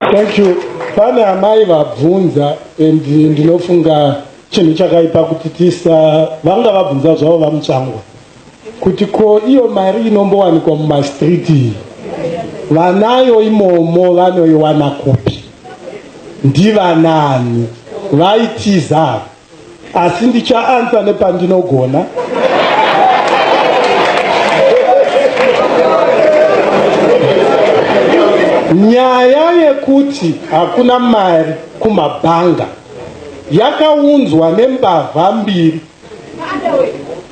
Thank you. Pane amai vabvunza and ndinofunga chinhu chakaipa kuti tisa vanga vabvunza zvavo vamutsvangwa kuti ko iyo mari inombowanikwa mumastreet iyi vanayo imomo vanoiwana kupi ndivanani vaitiza asi ndichaansa nepandinogona nyaya yekuti hakuna mari kumabhanga yakaunzwa nembavha mbiri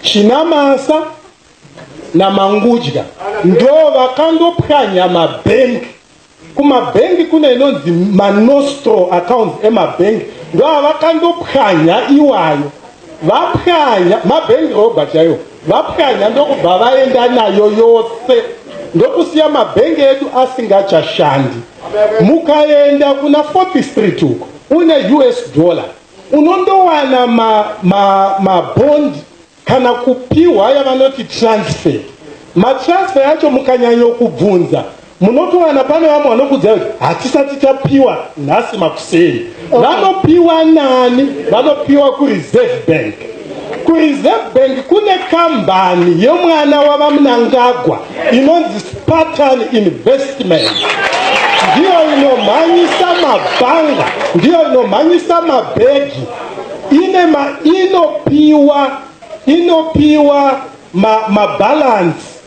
chinamasa namangudya ndo vakandopwanya mabhengi Kumabhengi kune inonzi manostro accounts emabhengi ndoavakandopwanya iwayo vapwanya mabhengi roba chaiwo vapwanya ndokubva vaenda nayo yose ndokusiya mabhengi edu asingachashandi mukaenda kuna fourth street uko une us dollar unondowana mabond ma, ma kana kupiwa yavanoti transfer matransfer yacho mukanyanyo kubvunza munotowana pane vamwe vanokudzai kuti hatisati tapiwa nhasi makuseni okay. vanopiwa nani vanopiwa kureserve bank kureserve bank kune kambani yemwana wavamunangagwa inonzi spartan investment ndiyo inomhanyisa mabhanga ndiyo inomhanyisa mabhegi ine ma inopiwa inopiwa ma, ma balance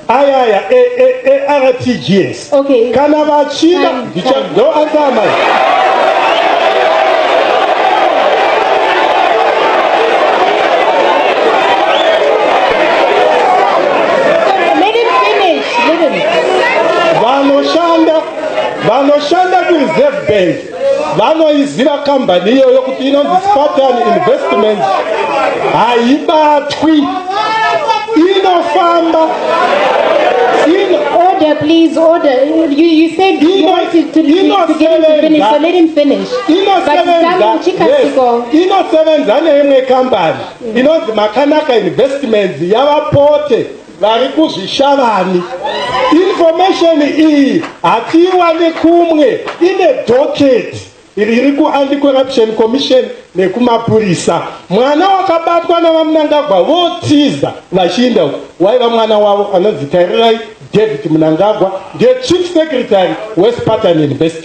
aya aya ertgs e, e, okay. kana vachida ndo ansama vanoshanda vanoshanda kureserve bank vanoiziva kambani iyoyo kuti inonzi spartan investments haibatwi inofamba order please order you, you said you wanted to, to, to get him to finish so let him finish inosevenza neimwe kambani inonzi makanaka investments yavapote vari kuzvishavani information iyi hatiiwane kumwe ine docket riri kuanti corruption commission nekumapurisa mwana wakabatwa navamunangagwa votiza vachiinda waiva mwana wavo anonzi tarirai david munangagwa ndiye chief secretary wespatan university